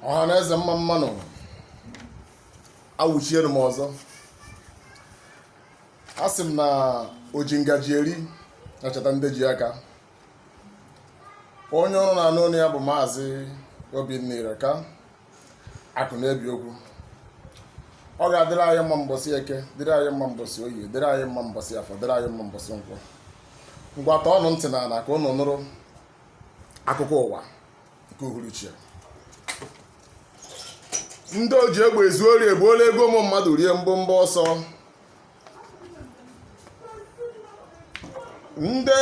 ọha na eze mma mma nụ awụchiele m ọzọ a sị m na oji ngaji eri na-echeta ndị ji aka onye ụnụ na-anụ olu ya bụ maazị obinna ireka akụ na-ebi okwu ọ ga-adịrị anyị mma mbọsị eke dịrị anyị mma mbọsị oye dịrị anyị mma mbọsị afọ dịrị anyị mma mbọsị nkwọ ngwa tọọnụ ntị na ala ka ụnụ nụrụ akụkọ ụwa nke uhuruchi ya ndị oji egbe ezu ori ebuola ego ụmụ mmadụ rie mbọmbọ ọsọ ndị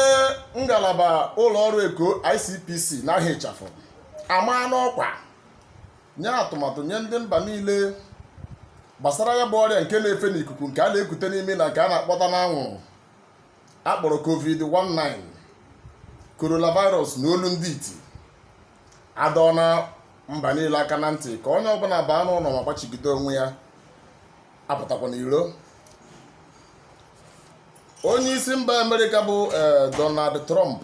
ngalaba ụlọ ọrụ eko ICPC n'aha ịchafụ amaana ọkwa nye atụmatụ nye ndị mba niile gbasara ya bụ ọrịa nke na-efe n'ikuku nke a na-ekute n'ume na nke a na-akpọta n'anwụrụ akpọrọ covid-19 coronavirus na olu ndị iti adọọna mba niile aka na ntị ka onye ọbụla baa n'ụlọ ma gbachigide onwe ya apụtakwana iro onye isi mba amerịka bụ eh, donald trump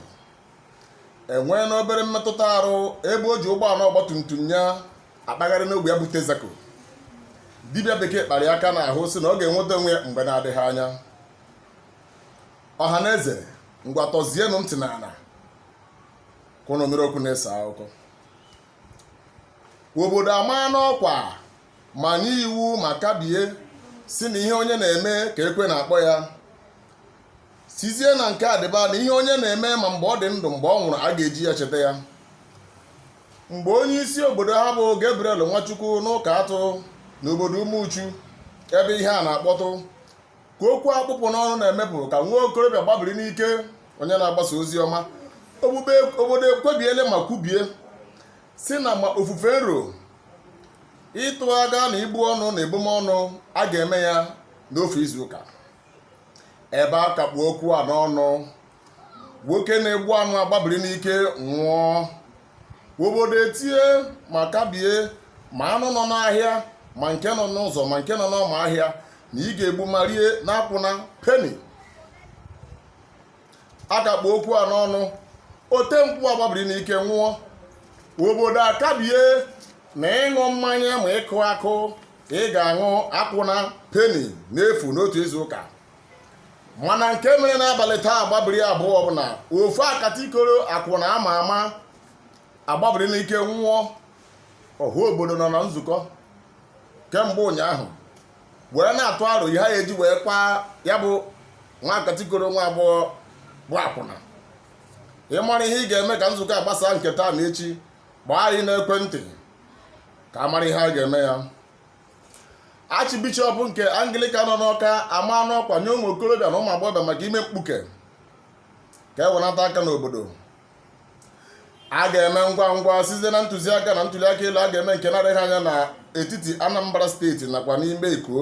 enweena obere mmetụta arụ ebe o ji ụgbọala ọgbatumtum ya akpagharị n'ogbe ya bụ texaco dibịa bekee kpara ya aka n'ahụ sị na ọ ga-enweta onwe ya mgbe na-adịghị anya ọha na eze ngwa tọzienụ ntị na ala ka ụnụ nụrụ okwu na-ese akụkọ obodo amaana ọkwa ma nye iwu ma kabie sị na ihe onye na-eme ka ekwe na-akpọ ya sịzie na nke adịba na ihe onye na-eme ma mgbe ọ dị ndụ mgbe ọ nwụrụ a ga-eji ya cheta ya mgbe onye isi obodo ha bụ Gabriel Nwachukwu n'ụka atụ n'obodo Umuchu ebe ihe a na-akpọtụ ka okwu a kpụ ọkụ n'ọnụ na-emepụ ka nwa okorobịa gbabiri n'ike onye na-agbasa ozi ọma obodo ekpebiele ma kwubie sị na ma ofufe nru ịtụ aga na ibu ọnụ na ebumọnụ a ga-eme ya n'ofu izu ụka ebe a ka kpụ okwu a n'ọnụ nwoke na-egbu anụ agbabiri n'ike nwụọ obodo etie ma kabie ma anụ nọ n'ahịa ma nke nọ n'ụzọ ma nke nọ n'ọma ahịa na ị ga-egbu ma rie n'akwụna peni a ka kpụ okwu a n'ọnụ ote nkwụ agbabiri n'ike nwụọ obodo akabie na ịṅụ mmanya ma ịkụ akụ ị ga-aṅụ akwụna peni n'efu n'otu izu ụka mana nke mere n'abalị taa agbabiri abụọ bụ na ofu akata ikoro akwụna ama ama agbabiri n'ike nwụọ ọha obodo nọ na nzukọ kemgbe ụnyaahụ wee na-atụ aro ihe ha eji wee kwaa ya bụ nwa akata ikoro nwa agbọghọ bụ akwụna ị mara ihe ị ga-eme ka nzukọ a gbasaa nke taa na echi gbaa anyị n'ekwentị ka a mara ihe a ga-eme ya achịbishọp nke anglika nọ n'ọka amaana ọkwa nye ụmụ okorobịa na ụmụ agbọghọbịa maka ime mkpuke ka e wenata aka n'obodo a ga-eme ngwa ngwa site na ntụziaka na ntụliaka elu a ga-eme nke na-adịghị anya na etiti anambra steeti nakwa n'ime eko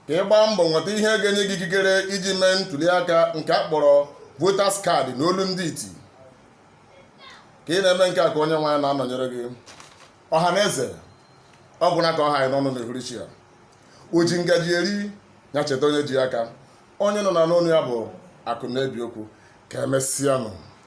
ka ị gbaa mbọ nweta ihe ga-enye gị ikikere iji mee ntụliaka nke a kpọrọ voters card na olu ndị iti ka ị na-eme nke a ka onyenwe anyị na-anọnyere gị ọha na eze ọ gwụna ka ọ ha anyị n'ọnụ n'ehuruchi a o ji ngaji eri ya cheta onye ji aka onye unu na-anụ onu ya bụ akụ na-ebi okwu ka emesịanụ